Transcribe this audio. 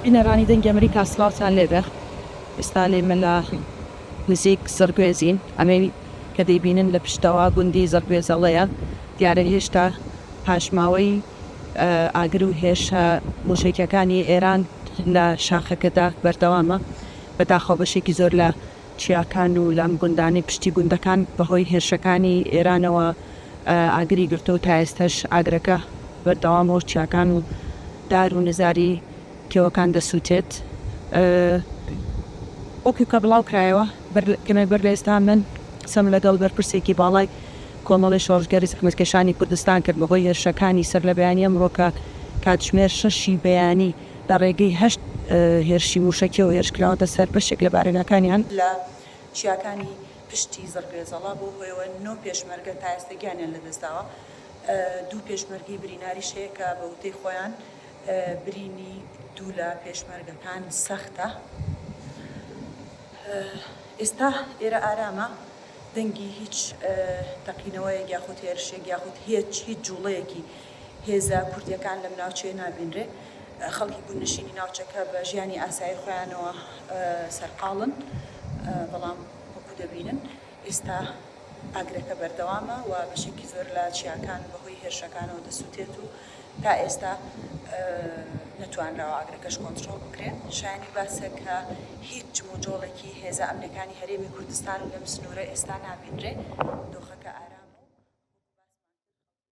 بینەرانی دەنگی ئەمریکا سڵاوتان لێبێ ئێستا لێمە لە نزیک زڕگوێزین ئەمەی کە دەیبینن لە پشتەوە گوندی زڕگوێزەڵەیە دیارە هێشتا پاشماوەی ئاگر و هێرشە موشەکیەکانی ئێران لە شاخەکەدا بەردەوامە بەداخەوە بەشێکی زۆر لە چیاکان و لام گوندانی پشتی گوندەکان بەهۆی هێرشەکانی ئێرانەوە ئاگری گرتووە و تائێستاش ئاگرەکە بەردەوامە و چیاکان و دار و نزاری کێوەکان دەسووتێت. وەکو کە بڵاوکرایەوە کەمێک بەر لە ئێستا من قسەم لەگەڵ بەرپرسێکی باڵای کۆمەڵەی شۆڕشگێڕی زەحمەتکێشانی کوردستان کرد بەهۆی هێرشەکانی سەر لە بەیانی ئەمڕۆ کە کاتژمێر شەشی بەیانی لە ڕێگەی هەشت هێرشی مووشەکییەوە هێرش کراوەتە سەر بەشێک لە بارەگاکانیان. لە چیاکانی پشتی زڕگێزەڵە بەو هۆیەوە نۆ پێشمەرگە تا ئێستا گیانیان لەدەستداوە، دوو پێشمەرگەی بریناریش هەیە کە بە وتەی خۆیان برینی دوو لە پێشمەرگەکان سەختە. ئێستا ئێرە ئارامە، دەنگی هیچ تەقینەوەیەک یاخود هێرشێک یاخود هیچ جووڵەیەکی هێزە کوردییەکان لەم ناوچەیە نابینرێ، خەڵکی گوندنشینی ناوچەکە بە ژیانی ئاسایی خۆیانەوە سەرقاڵن، بەڵام وەکو دەبینن ئێستا ئاگرەکە بەردەوامە و بەشێکی زۆر لە چیاکان بەهۆی هێرشەکانەوە دەسوتێت و تا ئێستا نەتوانراوە ئاگرەکەش کۆنتڕۆڵ بکرێ. شایانی باسە کە هیچ جموجۆڵێکی هێزە ئەمنەکانی هەرێمی کوردستان لەم سنوورە ئێستا نابینرێ، دۆخەکە ئارامە و وەکو باسمان کرد خەڵکی.